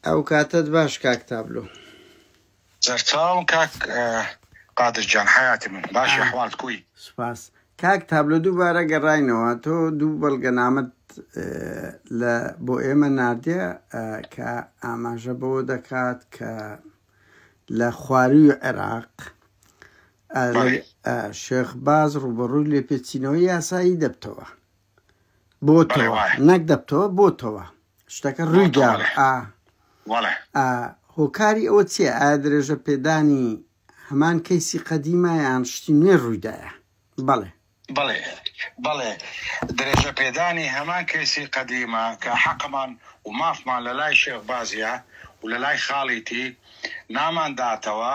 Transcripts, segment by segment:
ئەو کاتەت باش کاک تابلۆ. سەرچاو کاک قادر جان حەیاتی من باشی ئەحوالت کوی. سوپاس کاک تابلۆ دووبارە گەڕاینەوە تۆ دوو بەڵگەنامەت لە بۆ ئێمە ناردیە کە ئاماژە بەوە دەکات کە لە خواروی عێراق شێخ باز ڕوبەڕوی لێپێچینەوەی یاسایی دەبتەوە بۆتەوە نەک دەبتەوە بۆتەوە شتەکە ڕوویدا هۆکاری ئەوە چیە ئایا درێژە پێدانی هەمان کەیسی قەدیمایان شتی نوێ ڕوویدایە بەڵێ بڵێ بڵێ درێژە پێدانی هەمان کەسی قەدیمە کە حەقمان و مافمان لە لای شێخ بازیە و لە لای خاڵیتی نامانداتەوە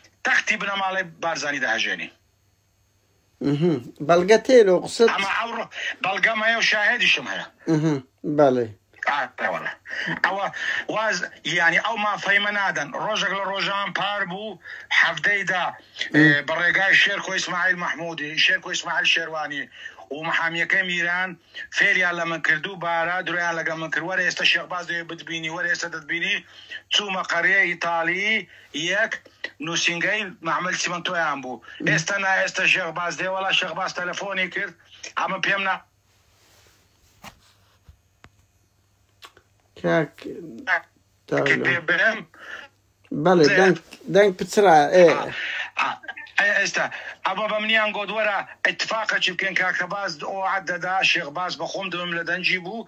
تەختی بنەماڵەی بارزانی دەهەژێنی. ئمم بەڵگە تێ لۆ قسەت؟ ئەمە ئەوڕۆ بەڵگەم هەیە و شاهێدیشم هەیە. ئمم بەڵێ. ئارەوەڵە ئەوە واز یانی ئەو مافەیمە نادەن ڕۆژێک لە ڕۆژان پار بوو حەفتەیدا بە ڕێگای شێرکۆ ئیسماعیل مەحمودی شێرکۆ ئیسماعیل شێروانی و محامیەکەی میران فێریان لە من کرد و بارا درۆیان لەگە من کرد وەرە ئێستا شێخباز دەوێ بتبینی وەرە ئێستا دەتبینی چوومە قەرەیە ئیتالی یەک نوسینگەی مەعمەل چیمەنتۆیان بوو ئێستا نا ئێستا شێخ باز دێ وەڵا شێخ باز تەلەفۆنی کرد ئەمە پێم نا کاک کرد دانا. پێ برم بەڵێ زێ. دەنگ دەنگ پچڕا ئێ ئێستا ئەمە بە منیان گۆدوەرە اتفاقەکی بکەین کاکە باز ئەو عەدەدا شێخ باز بە خۆم دەوێم لە دەنگی بوو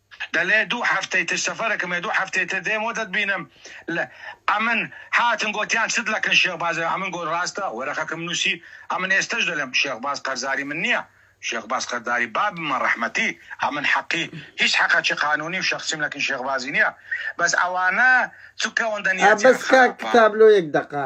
دەلێ دوو هەفتەی تر سەفەرەکم هەیە دوو هەفتەی تر دێم و دەتبینم لە ئەمن هاتن گۆتیان چت لەکن شێخ باز ئەمن گۆت راستە وەرەقەکم نوسی ئەمن ئێستەش دەلێم شێخ باز قەرزاری من نیە شێخ باز قەرداری بابمە رەحمەتی ئەمن حەقی هیچ حەقەکی قانونی و شەخسی لەکن شێخ بازی نیە بەس ئەوانە چ کەوەندە نیەتیان خراپە. بەس کاک تابلۆ یەک دەقە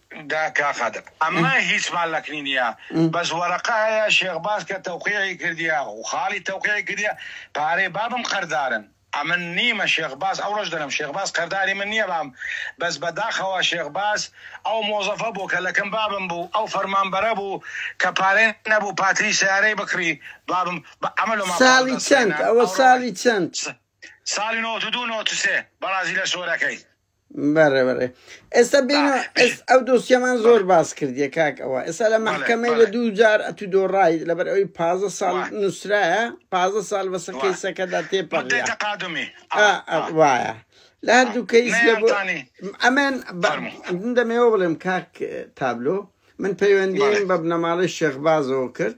دا کا قادر ئەمە هیچمان لەکنی نیە بەس وەرەقە هەیە شێخ باز کە تەوقیعی کردیە و خاڵی تەوقیعی کردیە پارەی بابم قەردارن ئەمن نیمە شێخ باز ئەو ڕۆژ دەلم شێخ باز قەرداری من نیە بام بەس بەداخەوە شێخ باز ئەو مۆزەفە بوو کە لەکن بابم بوو ئەو فەرمانبەرە بوو کە پارەی نەبوو پاتری سەیارەی بکڕی بابم بە ئەمە لۆما پاڵ دەست ساڵی چەند ئەوە ساڵی چەند ساڵی نۆتدوو نۆتسێ بەڕازیلە سۆرەکەی. بەڕێ بەڕێ ئێستا بین ئەو دۆسیەمان زۆر باس کردیە کاک ئەوە ئێستا لە مەحکەمەی لە دوو جار ئەتو دۆڕای لەبەر ئەوی پازە ساڵ نووسرایە پازە ساڵ بەسە کەیسەکەدا تێپەڕ تقادمی وایە لە هەردوو کەیس ئەمێن دەمێەوە بڵێم کاک تابلۆ من پەیوەندیم بە بنەماڵی شێخبازەوە کرد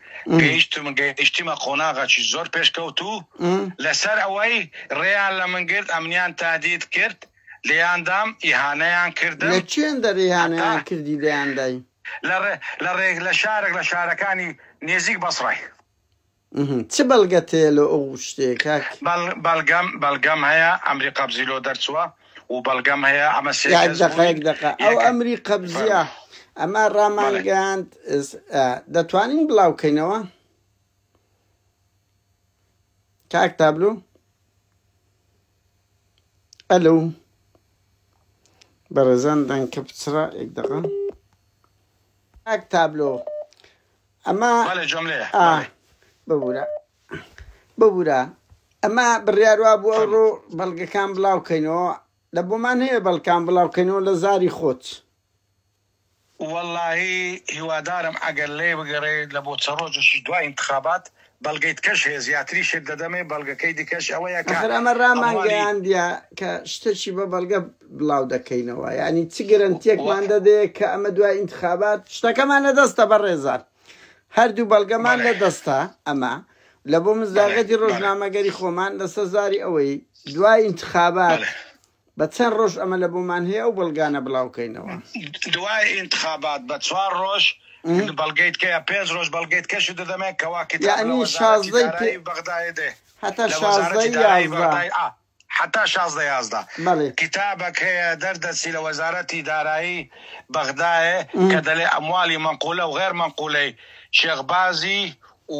گەیشتم گەیشتیمە قۆناغەکی زۆر پێشکەوتوو لەسەر ئەوەی ڕێیان لە من گرت ئەمنیان تادید کرد لێیاندام ئیهانەیان کردم لە چێندە ڕێیانیان کردی لێیاندای لە ڕێک لە شارێک لە شارەکانی نێزیک بەسڕای چ بەڵگەت هەیە لە ئەو شتێک بەڵگەم بەڵگەم هەیە ئەمری قەبزی لۆ دەرچووە و بەڵگەم هەیە ئەمە سێ یاک کەس دەقە بووین. یەک دەقە ئەو یەکە- ئەمری قەبزیە ئەمە ڕامانگەاند دەتوانین بڵاوکەینەوە کاک تابلو ئەلو بەڕێزان دەنکە بچڕە یەک دەقە کاک تابلو ئەمە بەڵێ جۆملەیە ئا بەڵێ ببورە ببورە ئەمە بڕیاروا بوو ئەو ڕۆ بەڵگەکان بڵاوکەینەوە لە بۆمان هەیە بەڵکان بڵاوکەینەوە لە زاری خۆت واللهی هیوادارم ئەگەر لێ بگەڕێ لە بۆ چە ڕۆژێکی دوای انتخابات بەڵگەی دکەش هەیە زیاتری شت دەدەمێ بەڵگەکەی دکەش ئەوەیە کە ئەخر ئەمە ڕامان گەیاندیە کە شتەکی بە بەڵگە بڵاو دەکەینەوە یانی چ گرنتیەکمان دەدێ کە ئەمە دوای ئینتخابات شتەکەمان لە دەستە بە ڕێزان هەردوو بەڵگەمان لە دەستە ئەمە لە بۆ مزداغەتی ڕۆژنامەگەری خۆمان لەسەر زاری ئەوەی دوای ئینتخابات بە چەند ڕۆژ ئەمە لە بۆمان هەیە ئەو بەڵگانە بڵاو کەینەوە؟ دوای ئینتخابات بە چوار ڕۆژ بەڵگەیت کەیە پێنج ڕۆژ بەڵگەیت کەشت دەدەمێ کەوا کتاب لە وەزارەتی دارایی بەغدایێ دێ هەتا شازدە یازدە ئا حەتا شازدە یازدە بەڵێ کتابەک هەیە دەر دەچی لە وەزارەتی دارایی بەغدایێ کە دەلێ ئەموالی مەنقولە و غێر مەنقولەی شێخ بازی و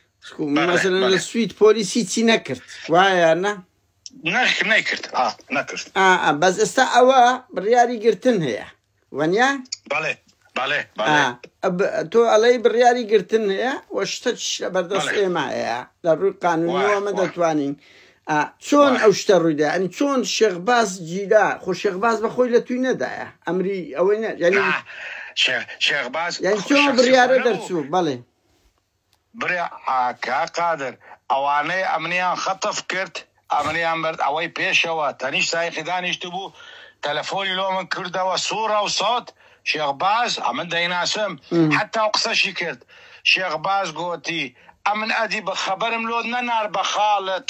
مەسەلەن لە سوید پۆلیس هیچی نەکرد وایە نە نەکرد نەکرد بەس ئێستا ئەوە بڕیاری گرتن هەیە وەنیا بەڵێ بەڵێ تۆ ئەڵەی بڕیاری گرتن هەیە و شتە لە بەردەست ئێمایە لە ڕووی قانونەوەمە دەتوانین چۆن ئەو شتە ڕوویدا ئەنی چۆن شێخباز جیدا خۆ شێخباز بە خۆی لە توی نەدایە ئەمری ئەوەی نە شێخباز بڕیارە دەرچوو بەڵێ برا کا قادر ئەوانەی ئەمنیان خەتەف کرد ئەمنیان برد ئەوەی پێشەوە تەنیشت سایقی دانیشتبوو تەلەفۆنی لۆ من کردەوە سوڕە و سەوت شێخ باز ئەمن دەیناسم حەتا و قسەشی کرد شێخ باز گۆتی ئەمن ئەدی بە خەبەرم لۆت نەنارد بە خاڵت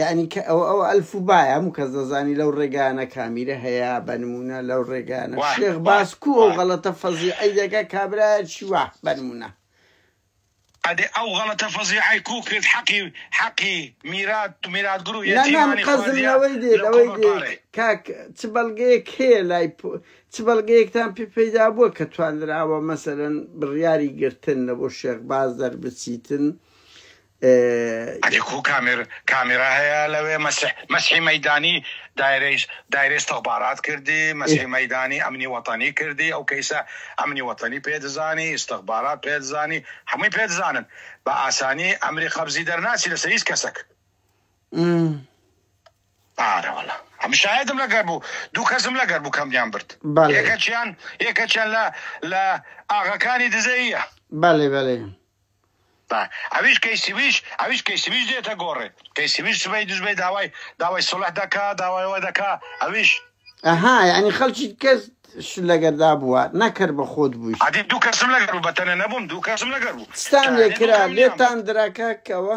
یانی کە ئەوە ئەوە ئەلف و بایە هەموو کەس دەزانی لەو ڕێگانە کامیرە هەیە بە نمونە لەو ڕێگانە وای، شێخ وای، باس کو ئەو وای. غەڵەتە فەزیعەی دەکە کابرایەکی وا بە نمونە ئەدێ ئەو غەڵەتە فەزیعەی کو کرد حەقی حەقی میرات و میراتگر و نا نا من یەتیمانی قەزم خواردیە لەوەی دێ لە لەوەی دێ کۆمەڵپارەی کاک چ بەڵگەیەک هەیە لای پ... چ بەڵگەیەکتان پێ پەیدا بووە کە تواندراوە مەسەلەن بڕیاری گرتن لە بۆ شێخ باز دەربچیتن ئەدی کوو کامێر کامێرا هەیە لەوێ مەسیح مەسحی مەیدانی دایرەیش دایرە ئیستخبارات کردی مەسحی مەیدانی ئەمنی وەتەنی کردی ئەو کەیسە ئەمنی وەتەنی پێ دزانی ئیستخبارات پێ دزانی هەمووی پێ دزانن بە ئاسانی ئەمری قەبزی دەرناچی لەسەر هیچ کەسەک ئارە وەڵا ئەم شایدم لەگەر بوو دوو کەسم لەگەر بوو کەمیان برد بەڵێ. یەکەچیان یەکەچیان لە لە ئاغەکانی دزەیە بەڵێ بەڵێ با ئەویش کەیسیویش ئەویش کەیسیویش دێتە گۆڕێ کەیسیویش سبەی دوژبەی داوای داوای سوڵح دەکا داوای ئەوە دەکا ئەویش. ئەها یەعنی خەڵکی کەس شت لەگەردا بووە نەک هەر بە خۆت بوویت. ئەدی دوو کەسم لەگەر بوو بەتەنێ نەبووم دوو کەسم لەگەر بوو. چتان لێ کرا لێتان درا کاک کەوە؟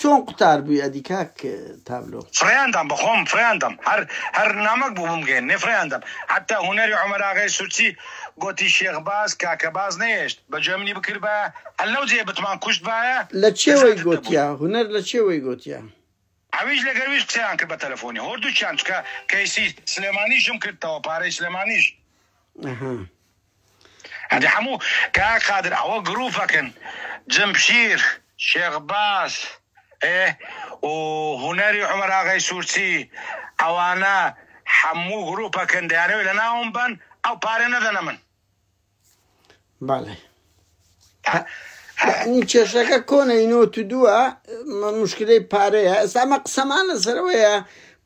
چۆن قوتار بوی ئەدی کاک تابلۆ. فریان دام بەخۆم فریان دەم هەر هەر نامەک بوو بمگەین نێ فریان دەم حەتە هونەری عومەر ئاغای سورچی گۆتی شێخ باز کاکە باز نەیەشت بەجۆی منی بکردبایە هەر لەو جێیە بتمان کوشت بایە لە چێوەی لەزاتت دەبووین. گۆتیا هونەر لە چێوەی گۆتیا. ئەویش لەگەر ویش قسەیان کرد بە تەلەفۆنی هۆردووکیان چکە کەیسی سلێمانیشم کردتەوە پارەی سلێمانیش. ئەها. ئەدی حەموو کاک قادر ئەوە گروپەکن جمشیر شێخ باز ئێ و هونەری عومەر ئاغای سورچی ئەوانە حەموو گروپەکن دەیانەوێ لەناوم بەن ئەو پارە نەدەنە من. بەڵێ ئەنی کێشەکە کۆنە ئینۆت و دووە مشکلەی پارەیە ئێستا ئەمە قسەمان لەسەرەوەیە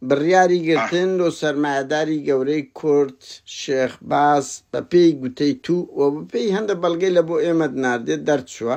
بڕیاری گرتن لۆ سەرمایهداری گەورەی کورد شێخ باس بە پێی گوتەی تو و بەپێی هەندە بەڵگەی لە بۆ ئێمەد ناردێت دەرچووە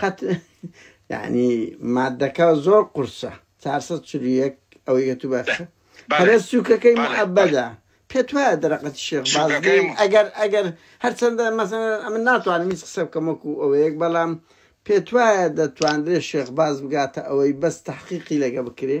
قەت یعنی مادەکە زۆر قورسە چار سەد چل و یەک ئەوەی کە تو بەخشە بەڵێ قەرە سووکەکەی بەڵێ بەڵێ معەبەدە پێت وایە دەرەقەتی شێخ باز سووکەکەی لێی م- ئەگەر ئەگەر هەرچەندە مەسەلەن ئەمن ناتوانم هیچ قسە بکەم وەکو ئەوەیەک بەڵام پێت وایە دەتواندرێ شێخ باز بگاتە ئەوەی بەس تەحقیقی لەگە بکرێ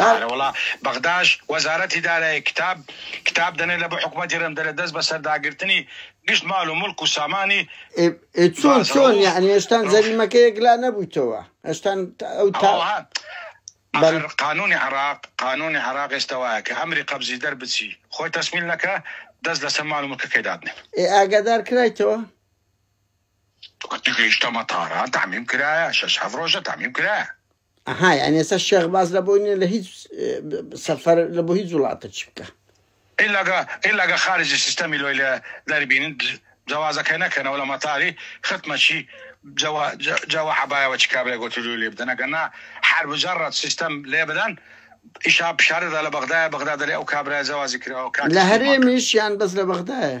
ئارە وەڵا بەغداش وەزارەتی دارایی کتاب کتاب دەنێ لەبۆ حکومەتی رم دەلێ دەست بەسەرداگرتنی گشت مال و ملک و سامانی ئێ چۆن چۆن یەعنی هێشتان جەریمەکە یەک لا نەبویتەوە هێشتان ئەو تا بەل قانونی عراق قانونی عراق ئێستا وایە کە ئەمری قەبزی دەر بچی خۆی تەسمیل نەکا دەست لەسەر مال و ملکەکەی دابنێ ئێ ئاگادار کرایتەوە گەیشتەمە تاران تعمیم کرایە شەش هەفت رۆژە تعمیم کرایە ئەها یانی ئێستا شێخ باس لە بۆی نیە لە هیچ سەفەر لە بۆ هیچ وڵاتە چی بکە. الا گە الا گە خارج سیستەمی لۆی لە دەر بین جەوازە کە نە کەنە وە لە مەتاری ختمە چی جە وە جە جە وە عەبایە وە چی کابرای گۆتی لۆی لێ بدەنە گە نا حەر بجە رت سیستەم لێ بدەن ئیشا پشارە دە لە بەغدایە بەغدا دە لێ ئەو کابرایە جەوازی کراوە کاتیش لە هەرێمیش یان بەس لە بەغدایە.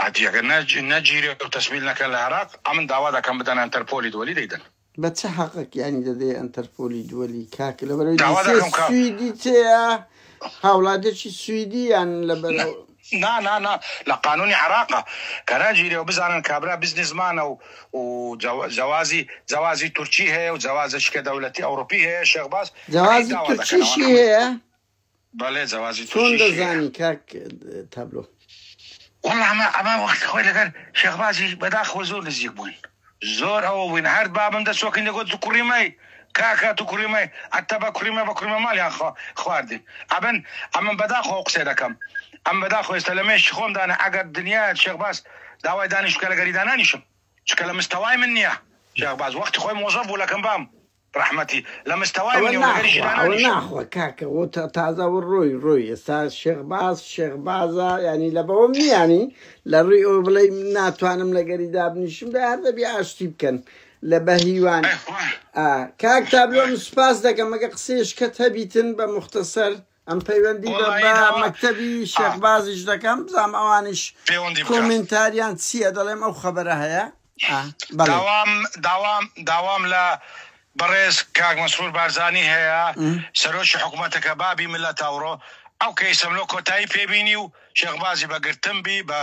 ئەدی ئەگەر نە نەگیرێ و تەسویل نەکەن لە عێراق ئەمن داوا دەکەم بدەن ئەنتەرپۆلی دوەلی دەیدەن. بە چ حەقەک یانی دەدەی ئەنتەرپۆلی دوەلی کاک لەبەرەوەی داوا دیسێ دەکەم کە سویدی تێیە هاوڵاتێکی سویدی یان نە لەبەرەوە نا نا نا لە قانونی عێراقە کە نەگیرێ و بزانن کابرا بزنسمانە و و جەوا جەوازی جەوازی تورکی هەیە و جەوازێکی کە دەولەتی ئەوڕوپی هەیە شێخ باز ئەی جەوازی داوا دەکەنەوە تورکیشی نەحن هەیە؟ بەڵێ جەوازی چۆن تووشی شێ. دەزانی کاک تابلۆ؟ وەڵا ئەمە ئەمە وەختی خۆی لەگەر شێخ باجی بەداخەوە زۆر نزیک بووین زۆر ئەوە بووین هەر بابم دەسۆکین دەگۆت تو کوڕی مەی کاکە تو کوڕی مەی ئەتە بە کوڕی مە بە کوڕی مە ماڵیان خوا خواردین ئەبن ئەمن بەداخەوە قسەی دەکەم ئەم بەداخەوە ئێستا لە مێشکی خۆم دانە ئەگەر دنیایە شێخ باز داوای دانیش بکە لەگەری دانانیشم چونکە لە مستەوای من نییە شێخ باز وەختی خۆی مۆزەف بوو لەکەم بام ڕەحمەتی لە مستەوای ئەوە منی و لەگەلی ناخوا ئەوە ژنانانیش. ناخوا کاکە وە تا تازە وە ڕۆی ڕۆی ئێستا شێخ باز شێخ بازە یانی لە بەوەم نیانی لە ڕوی ئەوە بڵێی من ناتوانم لەگەلی دابنیشم دا هەر دەبی ئاشتی بکەن لە بە هیوان ئەی خوا ئا کاک تابلۆ من سوپاس دەکەم ئەگە قسەیەشکەت هەبیتن بە موختەسەر ئەم پەیوەندی بە بە مەکتەبی شێخ بازیش دەکەم بزانم ئەوانیش کۆمنتاریان چییە دەڵێم ئەو خەبەرە هەیە داوام داوام داوام لە بەڕێز کاک مەسرور بارزانی هەیە سەرۆکی حکوومەتەکە بابی ملە تاوڕۆ ئەو کەیسم لۆ کۆتایی پێبینی و شێخبازی بە گرتم بی بە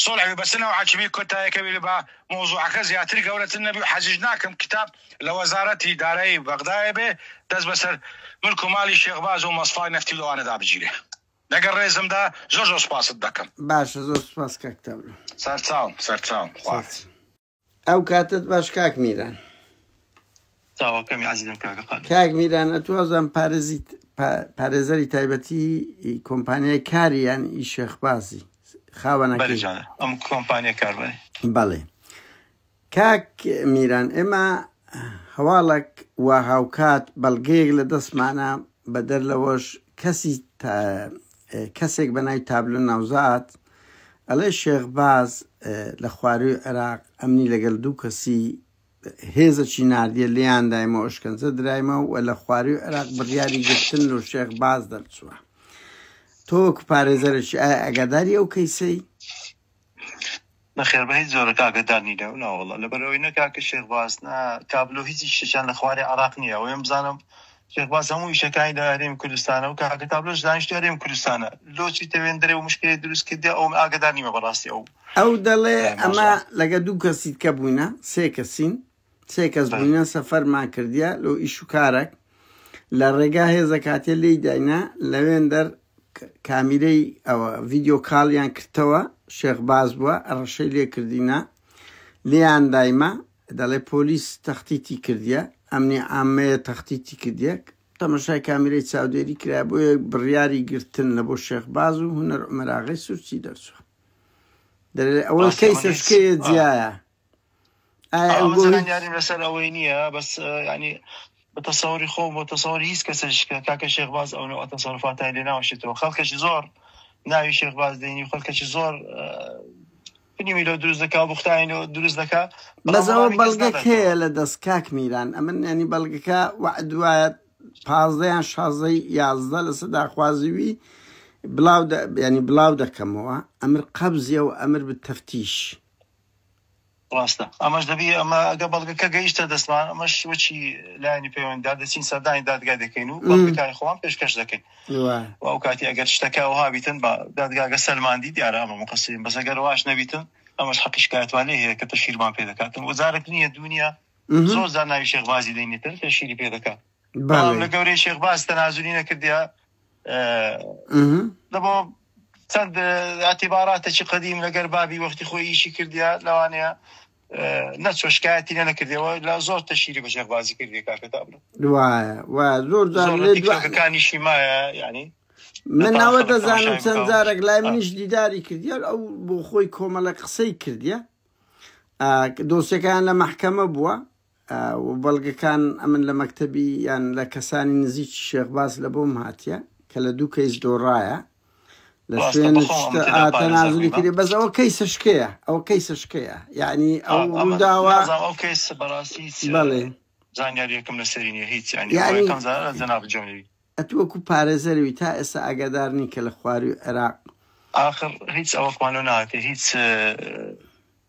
سۆڵحوی بەسنەوە عچبی کۆتایەکەوی لە بە مۆزوعەکە زیاتر گەورەتر نەبی و حەزیش ناکەم کتاب لە وەزارەتی دارایی بەغدایە بێ دەست بەسەر ملک و مالی شێخ باز و مەسڵای نەفتی لەوانەدا بگیرێ لەگەڵ ڕێزمدا زۆر زۆر سوپاست دەکەم. باشە زۆر سوپاس کاک تامر. سەرچاوم سەرچاوم خواحافیز. ئەو کاتەت باش کاک میران. چاوەکەمی ئەزیزم کاکە قادر. کاک میران ئەتوو وازم پارێزی پارێزەری تایبەتی کۆمپانیای کاری یان ئی شێخبازی خاوەنەکەی ئەم کۆمپانیا کار بەڵێ کاک میران ئێمە هەواڵەک وا هاوکات بەڵگەیەک لە دەستمانە بەدەر لەوەش کەسی کەسێک بە ناوی تابلو ناوزات ئەڵێ شێخباز لە خواروی عێراق ئەمنی لەگەل دوو کەسی هێزەکی ناردیە لیان دایمە ئۆشکەنجە درایمە و لە خواروی عێراق بڕیاری گرتن لە شێخباز دەرچووە تۆک پارێزەرش ئایا ئەگاداری ئەو کەیسەی نەخێر بە هیچ جۆرە کاکە دانی لەو ناوەڵە لەبەر ئەوەی نە کاکە شێخ باز نا تابلۆ هیچی شتێکیان لە خوارێ عراق نییە ئەوەم بزانم شێخ باز هەموو ئیشەکانی لە هەرێمی کوردستانە و کاکە تابلۆش دانیشتو هەرێمی کوردستانە لۆچی دەوێن درێ و مشکلی دروست کردی ئەوم ئاگادار نیمە بەڕاستی ئەو ئەو دەڵێ ئەمە لەگە دوو کەسیت کە بووینە سێ کەسین سێ کەس بووینە سەفەرمان کردە لۆ ئیش و کارەک لە ڕێگا هێزە کاتێ لی داینا لەوێن دەر کامیرەی ئەوە ڤیددیو کاڵیان کردەوە شێخ باز بووە ڕەشەی لێ کردینە لێیان دایمە دەڵێ پۆلیس تەختیتی کردە ئەمنی ئامەیە تەختیتی کردێک تەمەشای کامیرەی چاودێری کرا بۆ یەک بڕیاری گرتن لە بۆ شێخ باز و هوەر عمەراغی سوورچی دەرچوە دەێ ئەوە کەی سەشکەیە جیایە ئاگۆیانیم لەسەر ئەوەی نییە بەس ینی بە تەسەوری خۆ بۆ تەسەوری هیچ کەسشکە کاکە شێخباز ئەوەوە تەسەرفاتای لێ ناوشێتەوە خەڵکەش زۆر ناوی شێخباز دێنی خەڵکەش زۆر فنیمی لە دروست دەکا بختین و دروست دەکا بەزەوە بەڵگەک هەیە لە دەست کاک میران ئەمن ینی بەڵگەکە وعدوایە پازدەیان شازەی یازدە لە سەداخوازیوی بلاو ینی بلاو دەکەمەوە ئەمر قەبزیە و ئەمر بە تەفتیش. ڕاستە ئەمەش دەبی ئەمە ئەگە بەڵگەکە گەیشتە دەستمان ئەمەش وەچی لایانی پەیوەنددار دەچین سەردانی دادگای دەکەین و بەڵگەکانی خۆمان پێشکەش دەکەین و ئەو کاتی ئەگەر شتەکە وها بیتن بە دادگاگە سەلماندی دیارە ئەمە مقسیم بەس ئەگەر واش نەبیتن ئەمەش حەقی شکایەتوان لێ هەیە کە تەشیرمان پێ دەکاتن وەزارت نییە دنیا زۆر زار ناوی شێخبازی دەینێتن تەشیری پێ دەکات بەڵام لە گەورەی شێخباز تەنازولی نەکردیا لەبۆ چەند ئەتیباراتێکی قدیم لەگەر بابی وەختی خۆی ئیشی کردیا لەوانەیە نەچۆ شکایەتی لە نەکردەوە لە زۆر تەشیری بە شێخبازی کردی کاکەتا بن زۆر جارەکانیشی مایە ینی من ناوە دەزانم چەند جارێک لای منیش دیداری کردیار ئەو بۆ خۆی کۆمەڵە قسەی کردیە دۆسیەکان لە محکەمە بووە و بەڵگەکان ئەمن لە مەکتەبی یان لە کەسانی نزیکی شێخ باس لە بۆم هاتیە کە لە دوو کەیس دۆڕایە لە ڕاستە شوێن بەخۆم شتە تێدا ئاتە پارێزەر نازلی بیمە کردی بەس ئەوە کەیسە شکەیە ئەوە کەیسە شکەیە یعنی ئەو ئەم ئەمە ڕووداوە نازانم ئەو کەیس بەڕاستی هیچ اه، بەڵێ زانیاریەکم لەسەری نیە هیچ یعنی ئەوە یعنی یەکەم زارە جەناب جۆنی ئەت وەکو پارێزەروی تا ئێستا ئاگادار نین کە لە خواروی عێراق ئاخر هیچ ئەوەکمان لۆ ناکە هیچ اه،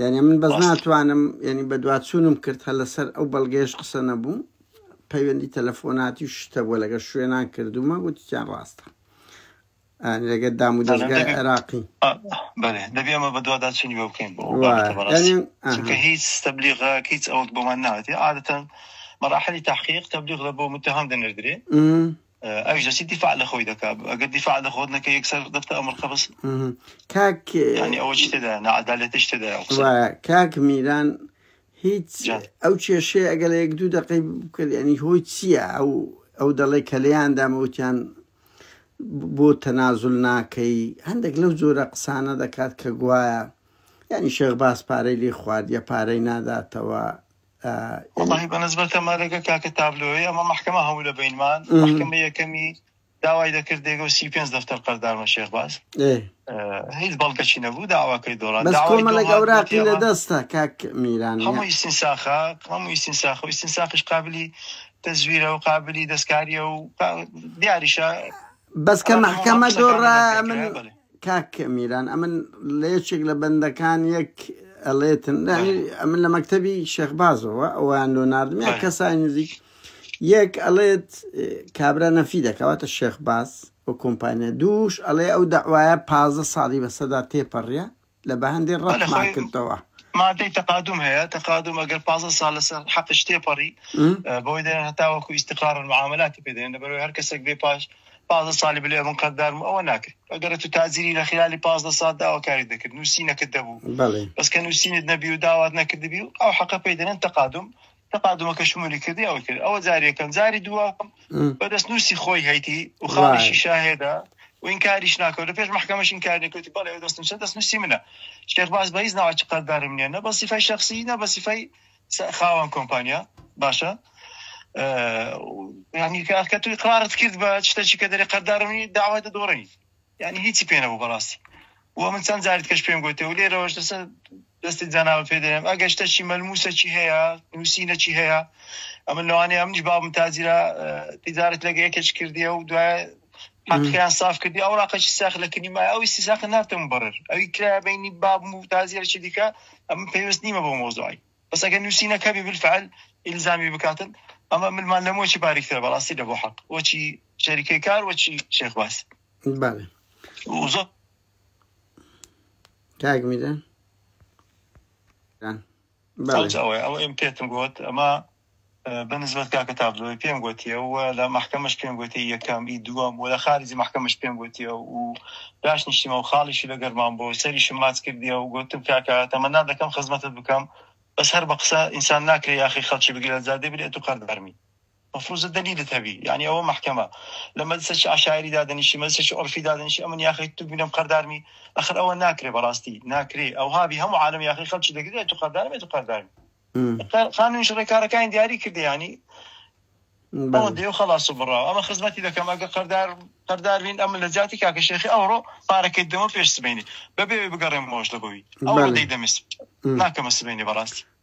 یانی من بەس ناتوانم یعنی بەدواچوونم کرد هە لەسەر ئەو بەڵگەش قسە نەبوو پەیوەندی تەلەفۆناتی و شتە بووە لەگە شوێنان کردومە وتیان ڕاستە لەگە دام و دەستگای عێراقی دەبێ ئەمە بەدوادا چنی بە بکەین چونکە هیچ تەبلیغە هیچ ئەوەت بۆمان ناوێتی عادەتەن مراحلی تحقیق تەبلیغ لە بۆ متهم دەنردرێ ئەویش دەچی دیفاع لە خۆی دەکا ئەگەر دیفاع لە خۆت نەکە یەکسەر دەفتە ئەمر قەبس کاک ینی ئەوە چی تێدا نەعەدالەتیش تێدا کاک میران هیچ ئەو کێشەیە ئەگەر لە یەک دوو دقی بکرد ینی هۆی چییە ئەو ئەو دەڵێ کە لێیان دامەوتیان بۆ تەنازل ناکەی هەندێک لەو جۆرە قسانە دەکات کە گوایە ینی شێخ باس پارەی لێ خوارد یا پارەی ناداتەوە وەڵاهی بەنسبەت تەمارەگە کاکە تابلۆی ئەمە محکمە هەموو لە بینمان محکمە یەکەمی داوای دەکرد دێگە و سی پێ دەفتەر قەردارمە شێخ باز هیچ بەڵگەچی نەبوو داواکەی دۆڕان کۆمەڵە گەوراقی لە دەستە کاک میران هەموو ئیسینساخە هەموو ئیسینساخە و ئیسینساخش قابلی تەزویرە و قابلی دەستکاریە و دیاریشە بەس کە بەڵێ هەموو هەموو مەحکەمە قسەکان لە دۆڕا ناو ئەمن بنکەیە بەڵێ کاک میران ئەمن لە یەکێک لە بەندەکان یەک ئەڵێتن لانی بەڵێ ئەمن لە مەکتەبی شێخبازەوە ئەویان لۆ ناردم یا بەڵێ کەسای نزیک یەک ئەڵێت اه، کابرا نەفی دەکەواتە شێخباز و کۆمپانیا دووش ئەڵێ ئەو دەعوایە پازدە ساڵی بەسەدا تێپەڕیە لە بەهەندێ ڕەتمان بەلە خۆی کردەوە. مادەی تقادم هەیە تقادم ئەگەر پازە سال لەسەر حەقش تێپەڕی م؟ اه، بەوەی دەێن هەتا وەکو ئیستقرار معاملاتی پێدەێن لەبەرەوەی هەر کەسێک بێ پاش پازە سالی بلێ من قەدارم ئەوە ناکرد ئەگەر تو تازیری لە خلالی پازدە سال داواکاری دەکرد نووسینەکە دەبوو بەڵێ بەس کە نووسینت نەبی و داوات نەکردبی و ئەو حەقە پێی دەێن تقادم تەپادۆکە شمولی کردی ئەوەی کرد ئەوە جاری یەکەم جاری دووە بە دەستنووسی خۆی هەیتی و خاڵیشی شاهێدا و این کاریش ناکەوت لە پێش محکمەش این کار نکوتی بەڵێ ئەو دەستم چە دەستنووسی منە شێخ باز بە هیچ ناوە چقدردارم نیە نە بە سیفای شخصی نە بە سیفای خاوەن کۆمپانیا باشە ینی کاکە توی قرارت کرد بە شتەچی کە دەری قەردارمی داوای دەدۆڕی یانی هیچی پێ نەبوو بەڕاستی و من چەند جاری دیکەش پێم گوتێ و لێرەوەش لەسەر دەستی جەنابت پێ دەنێم ئەگەر شتەکی مەلموسەکی هەیە نووسینەکی هەیە ئەمن لەوانەیە منیش بابم تاجرا تجارت لەگە یەکێک کردیە و دوای حقیان صاف کردی ئەو ڕاقەکی ساخ لە کنی ما ئەوی سیساق ناتم بڕر ئەوی کرا بینی بابم و تازیەکی دیکە ئەم پێویست نیمە بۆ مۆزۆی بەس ئەگەر نووسینەکەبی بالفعل ئیلزامی بکاتن ئەمە ملمان لەمۆکی باریکتر بەڕاستی لە بۆ حق وەچی شەریکەی کار وە چی شێخ باس بەڵێ وزۆ کاک میدە ئەڵێم پێتم گوت ئەمە بەنسبەت کاکە تابلۆی پێم گوتیەوە لە محکمەش پێم گوتی یەکەم ئی دووەم و لە خارجی محکمەش پێم گوتیە و داش نیشتیمە و خاڵیشی لە گەرمان بۆ سەریشم ماچ کردیە و گوتم کاکە تەمەنا دەکەم خزمەتت بکەم بەس هەر بە قسە ئینسان ناکرێ یاخی خەڵکی بگرە زادێ بێت و قەردەرمی مفروزە دلیلت هەبی یانی ئەوە مەحکەمە لە مەجلسێکی عەشایری دادەنیشی مەجلسێکی عورفی دادەنیشی ئەمن یاخی تو بینم قەردارمی ئەخر ئەوە ناکرێ بەڕاستی ناکرێ ئەوها بی هەموو عالەم یاخی خەڵکی دەگرێ تو قەردارمێ تو قەردارمی تا- خانوویش ڕێکارەکانی دیاری کردی یانی ئەوە بەڵێ دێو خلاص و بڕاو ئەمە خزمەتی دەکەم ئەگە قەردار قەردار بین ئەمن لە جاتی کاکە شێخی ئەوڕۆ پارەکەی دەمە پێش سبەینێ بەبێ بگەڕێمەوەش لە بۆی ئەوڕۆ بەڵێ دەی دەمێ سبەینێ م. ناکەمە سبەینێ بەڕاستی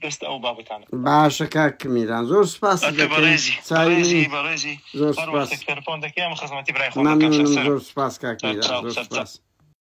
بەستە ئەو بابەتانە. باشە کاک میران زۆر سوپاست دەکەین چاوی منی زۆر سوپاس مەمنونم زۆر سوپاس کاک میران زۆر سوپاس.